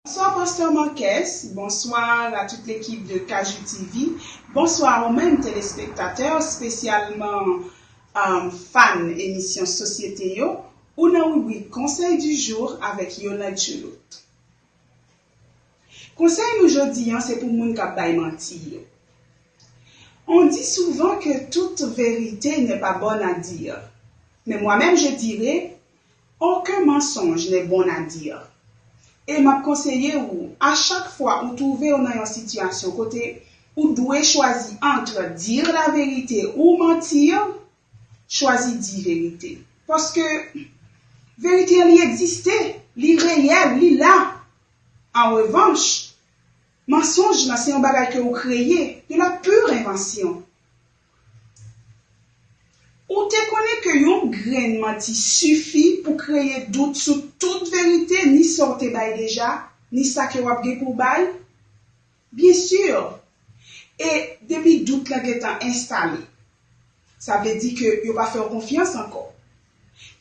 Bonswa Pasteur Marques, bonsoir a tout l'équipe de Kajou TV, bonsoir ou menm téléspectateurs spécialement fan émission société yo, ou nan rubrik conseil du jour avec Yolande Choulout. Conseil nou jodi an se pou moun kap bay manti yo. On dit souvent que toute vérité n'est pas bonne à dire, mais moi-même je dirai, Aucun mensonge n'est bon à dire. E map konseye ou, a chak fwa ou twouve ou nan yon sitiyasyon kote ou dwe chwazi entre dire la vérité ou mentir, chwazi di verite. Paske verite an li egziste, li reyèl, li la. An revanch, mensonge lan se yon bagay ke ou kreye, de la pure invention. Ou te konnen ke yon grenn manti sifi pou kreye dout sou tout verite ni sa w te bay deja, ni sa ke w ap gen pou w bay? Byen sur! E depi dout lan gen tan enstale, sa vle di ke yo pa fè w konfyans ankò.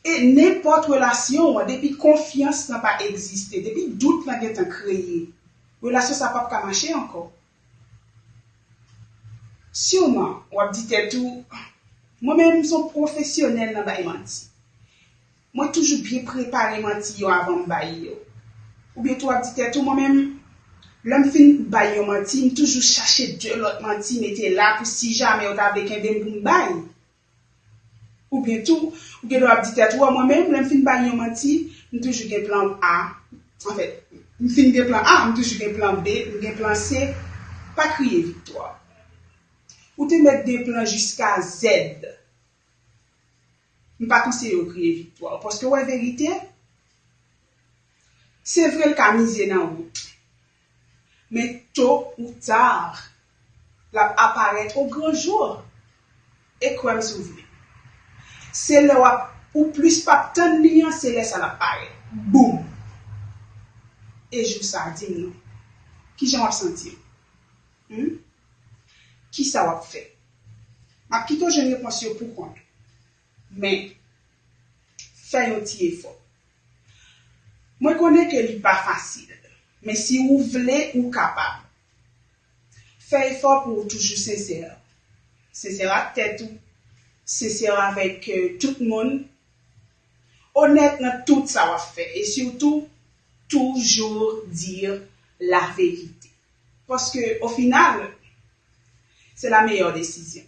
E nenpòt relasyon an, depi konfyans lan pa egziste, depi dout lan gen tan kreye, relasyon sa pap ka mache ankò. Siwman, w ap di tèt ou, Mwen menm, m s on pwofesyonèl nan bay manti. Mwen toujou byen prepare manti yo avan m bay yo. Oubyen tou w ap di tèt ou, Mwen menm, lè m fin bay yon manti, m toujou chache de lòt manti mete la pou si jamè yo ta vle kenbe m pou m bay. Oubyen tou, ou gen dwa ap di tèt ou, mwen menm, lè m fin bay yon manti, m toujou gen plan A. Anfen, m fin gen plan A, m toujou gen plan B, m gen plan C. Pa kriye Viktwa. Ou te mèt gen plan jiska Z. M pa konseye w kriye Viktwa. Paske w wè verite? Se vre l ka mize nan ou. Men to ou tar, l ap aparèt o gran jour. E kwè m si w vle. Se lè w ap ou plis p ap tann li an se lè sa l ap parèt. Boom! E jou sa a, di m non, ki jan w ap santi w? Hum? Ki sa w ap fè? M ap kite w jwenn repons yo poukont ou. Men, fè yon ti efò. Mwen konnen ke li pa fasil, men si ou vle ou kapab. Fè efò pou ou toujou sensè. Sensè ak tèt ou, sensè avèk tout moun, onèt nan tout sa wap fè e sitou toujou di la verite. Paske o final, se la meyè desizyon.